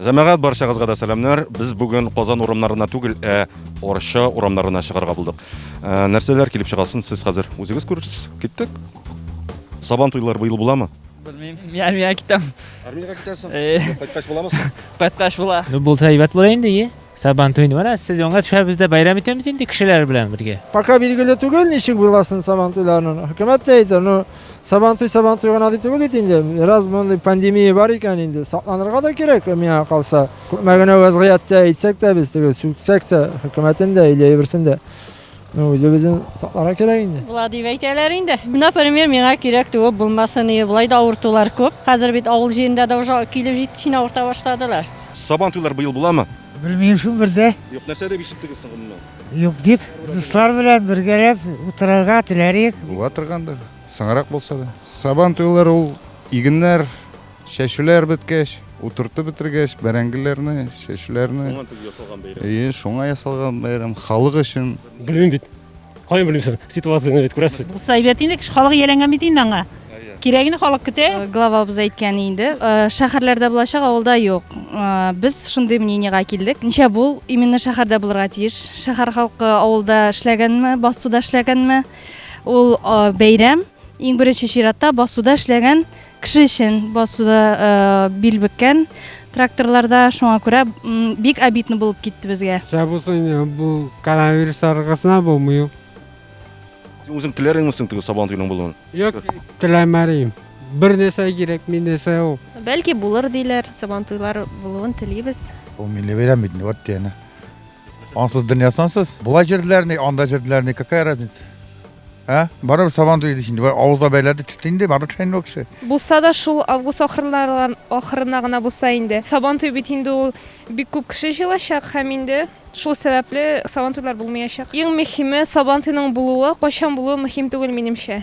Җәмәгать барчагызга да сәламнәр. Без бүген Казан урамнарына түгел, ә Арча урамнарына чыгарга булдык. Ә, нәрсәләр килеп чыгасын сез хәзер үзегез күрерсез. Киттек. Сабан туйлары быел буламы? Белмим. Я мия китәм. Армиягә китәсең. Э. Кайткач буламы? Кайткач була. Булса әйбәт була инде, е. Сабантуен менә сез аңа төшәбез дә бәйрәм итәбез инде кешеләр белән бергә. Пока билгеле түгел, ничек буласын сабантуйларның. Хөкүмәт тә әйтә, ну, сабантуй сабантуй гына дип түгел бит инде. Раз мондый пандемия бар икән инде, сакланырга да кирәк, миңа калса. Күпме генә вәзгыятьтә әйтсәк тә без, теге сүксәк тә, хөкүмәтен дә, илә әйберсен дә. Ну, үзебезен сакларга кирәк инде. Була дип әйтәләр инде. Например, миңа кирәк туып булмасын иде. Болай да авыртулар күп. Хәзер бит авыл җирендә дә уже килеп җитешен авырта башладылар. Сабан туйлар быел буламы? Белмим шул бер дә. Юк, нәрсә дип ишеттегез соң гомумән? Юк дип, дуслар белән бергәләп утырырга теләр идек. Була торгандыр, соңрак булса да. Сабан туйлар ул игеннәр. Чәчүләр беткәч, утыртып бетергәч, бәрәңгеләрне, чәчүләрне. Шуңа дип ясалган бәйрәм. Әйе, шуңа ясалган бәйрәм. Халык өчен. Белмим бит. Каян белим соң? Ситуацияне бит күрәсез бит. Булса әйбәт инде, кеше халык ияләнгән бит инде аңа. Кирәгене халык көтә. Главабыз әйткән инде, шәһәрләрдә булачак, авылда юк. Без шундый мнениегә килдек. Ничә бул именно шәһәрдә булырга тиеш. Шәһәр халкы авылда эшләгәнме, басуда эшләгәнме, ул бәйрәм иң беренче чиратта басуда эшләгән Кеше өчен басуда бил бөккән тракторларда шуңа күрә бик обидно булып китте безгә. Сәбәп булса инде бу коронавирус таралгасына булмый ул. Син үзең теләреңме соң теге сабан туйның булуын? Юк, теләмәрим. Бер нәрсә кирәк, мин нәрсә ул? Бәлки булыр диләр, сабан туйлар булуын телибез. Ул милли бәйрәм бит, вот дигәне. Ансыз дөнья сансыз. Була җирләрне, анда җирләрне, какая разница? Ә? Барыбер сабан туйды инде. Бар авызда бәйләде тетте инде, бары тешән бу кеше. Булса да шул август ахырларына ахырына гына булса инде. Сабан туй бит инде ул бик күп кеше җыелачак һәм инде шул сәбәпле сабан туйлар булмаячак. Иң мөһиме сабан туйның булуы, кайчан булуы мөһим түгел минемчә.